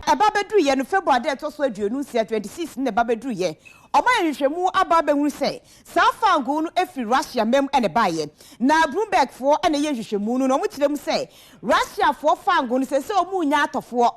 Ɛba bɛduruiɛ no, February da a ɛtɔ so aduonu nsia, 26, no na ɛba bɛduruiɛ. Wɔayɛ nhwehwɛmu aba abɛhunu sɛ saa fangoo no firi Russia mma mu na ɛbaeɛ. Na Bloombergfoɔ na ɛyɛ nhwehwɛmu no na wɔkyerɛ mu sɛ Russiafoɔ fangoo no seesei wɔrenya atɔfoɔ.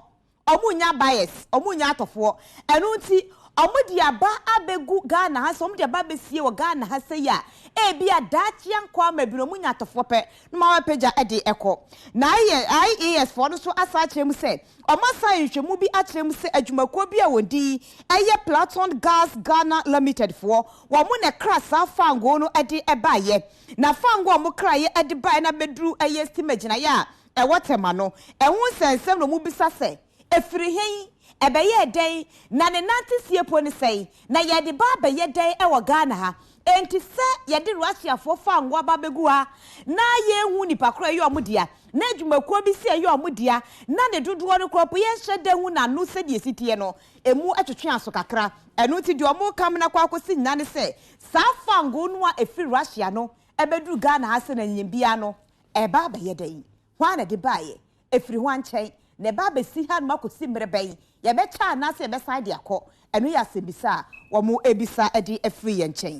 Ɔmo nnya buyers, ɔmo nnya atɔfoɔ. Ɛno nti ɔmo de aba abɛgu Ghana ha sɛ ɔmo de aba abɛsie wɔ Ghana ha sɛyi a, ebia daakye ankɔ ama bi no ɔmo nya atɔfoɔ pɛ na ɔmo abɛpagya de ɛkɔ. Na IAS foɔ no nso asan akyerɛ mu sɛ ɔmo asan ayɛ nhwehwɛmu bi akyerɛ mu sɛ adwumakuo bi a wɔn din yɛ Platon Gas Ghana Limited foɔ, wɔn na ɛkra saa fangoo no de baeɛ. Na fangoo a wɔkraeɛ de baeɛ no abɛduru ɛyɛ stima gyinaeɛ a Ɛwɔ tema no, ɛho nsɛnsɛm na wɔbisa sɛ, Ɛfiri he? Ɛbɛyɛɛ dɛn? Na ne nanteseɛ po ne sɛn? Na yɛde ba abɛyɛ dɛn wɔ Ghana ha? Enti sɛ yɛde Russiafoɔ fa ngo aba abɛgu ha na yɛnhu nnipa korɔ a ɛyɛ wɔn dea, na adwumakuo bi se ɛyɛ wɔn dea, na ne dodoɔ no korɔ mpo yɛnhyɛ da hu n'ano sɛdeɛ ɛsi teɛ no, emu twetwe aso kakra. Ɛno nti deɛ wɔreka mena kɔ akɔsi nyina ne sɛ, saa fa ngo no a ɛfiri Russia no bɛduru Ghana ha sɛnea nyiyim biara no Ɛreba abɛyɛ dɛn? Hwan na ɛde baeɛ? Ɛfiri hwan nkyɛn? Na ɛbɛ abɛsi hanom akɔsi mmerɛ bɛn? Yɛbɛkyɛ anaasɛ yɛbɛsan de akɔ? Ɛno yɛ asɛmmisa a wɔrebisa de afiri yɛn nkyɛn.